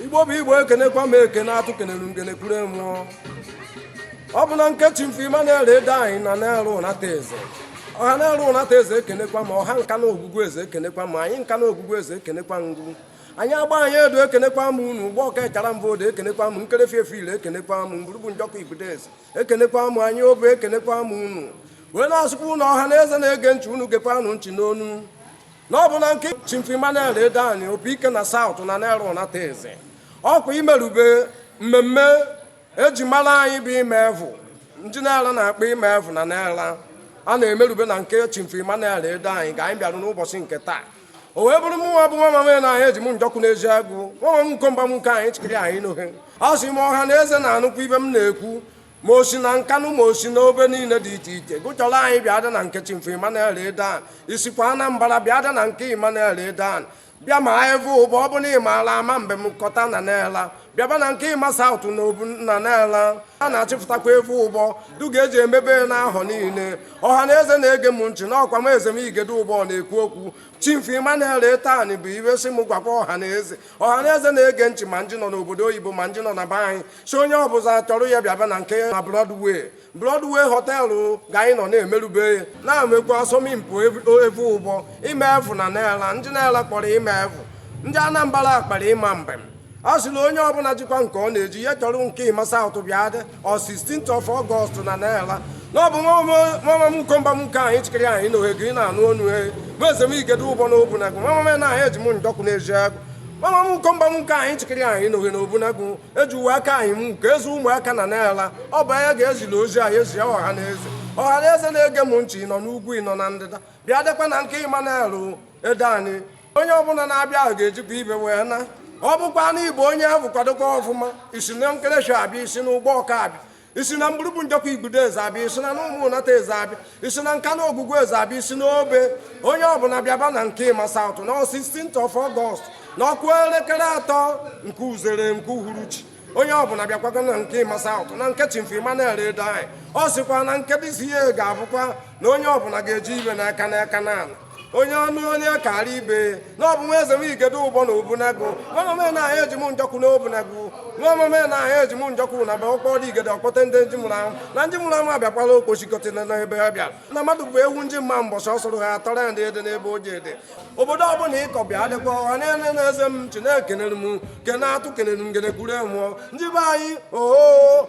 igbo bụ igbo ekenekwa m ekene atụ kenelu ngene kwuru enwụọ ọ bụ na nke Chief Emmanuel Edeani na Nara Unateze ọha Nara Unateze ekenekwa m ọha Nkanu ogwugwu eze ekenekwa m anị Nkanu ogwugwu eze ekenekwa ngwu anị Agbanị edu ekenekwa m unu Ugbọka ịchara mbụ odo ekenekwa m Nkerefi efe ile ekenekwa m Mburubu Njọkụ Igbudo eze ekenekwa m anị Obe ekenekwa m unu wee na-asụkwa unu ọha na eze na-ege nchị unu gekwanụ nchị n'onu na ọ bụ na nke Chief Emmanuel Edeani Opi ike na South na Nara Unateze ọkwa imerube mmemme eji mara anyị bụ ime evu ndị Nara na-akpọ ime evu na Nara a na-emerube na nke Chief Emmanuel Edeani ga anyị bịarụ n'ụbọchị nke taa o wee bụrụ mụnwa bụ nwa mama na anyị eji m njọkụ n'ezi agụ nwa m nkomba m nke anyị chịkiri anyị n'ohe a sị m ọha na eze na-anụkwa ive m na-ekwu ma o si na Nkanu ma o si n'obe niile dị iche iche gụchọrọ anyị bịa dị na nke Chief Emmanuel Edeani i sikwa Anambra bịa dị na nke Emmanuel Edeani bịa ma evu ụbọ ọ bụ na ị maala ama mbem kọta na Nara bịaba na nke Emma South na obu na Nara a na-achịpụtakwa evu ụbọ du ga-eji emebe n'ahọ niile ọha na eze na-ege m ntị na ọkwa m eze m igede ụbọ na-ekwu okwu Chief Emmanuel Edeani bụ iwe sị m gwakwa ọha na eze ọha na eze na-ege ntị ma ndị nọ n'obodo oyibo ma ndị nọ na be anyị sị onye ọbụla chọrọ ya bịaba na nke na Broadway Broadway họteelụ ga anyị nọ na-emerube ya na-emekwa asọmpi evu ụbọ ime evu na Nara ndị Nara kpọrọ ime evu ndị Anambra kpọrọ ịma mbem a sị na onye ọbụla jikwa nke ọ na-eji ya chọrọ nke Emma South bịa dị on 16th of August na Nara na ọ bụ nwa m nkomba m nke anyị chịkịrị anyị na ohe gị rị na-anụ onu e bụ eze m igede ụbọ na obunagu nwa m na anyị eji m njọkụ n'ezi agụ nwa m nkomba m nke anyị chịkịrị anyị na ohe na obunagu ejiwe aka anyị m ka ezi ụmụaka na Nara ọ bụ anya ga-ezila ozi anyị ezi ọha na eze ọha na eze na-ege m nchị ị nọ n'ugwu ị nọ na ndịda bịa dịkwa na nke Emmanuel Edeani onye ọbụla na-abịa ga-ejikwa ive wee na ọ bụkwa na igbo onye ahụ kwadokwa ọfụma i si na Nkerefi abịa i si n'Ugbọka abịa i si na Mburubu Njọkụ Igbudo eze abịa i si na n'ụmụ Unateze abịa i si na Nkanu ogwugwu eze abịa i si n'Obe onye ọbụla bịaba na nke Emma South na 16th of August na ọ kụọ elekere atọ nke uzere nke uhuruchi onye ọbụla bịakwago na nke Emma South na nke Chief Emmanuel Edeani ọ sịkwa na nke this year ga-abụkwa na onye ọbụla ga-eji ive n'aka n'aka n'ala onye ọnụ onye kara ibe na ọ bụ nwa eze m igede ụbọ na obunagu nwa mama na anyị eji m njọkụ na obunagu nwa mama na anyị eji m njọkụ na ba ụkpọ dị igede ọkpọte ndị nji mụrụ ahụ na nji mụrụ ahụ abịakwala okpochikọtị na ebe ha bịara na mmadụ bụ ewu nji mma mbọchị ọ sụrụ ha atọrọ ya ndị ede n'ebe o ji ede obodo ọbụla ịkọ bịa dịkwa ọha Nara na eze m chi na-ekenere m ekene atụ kenere ngene kwuru emụọ ndị be anyị oo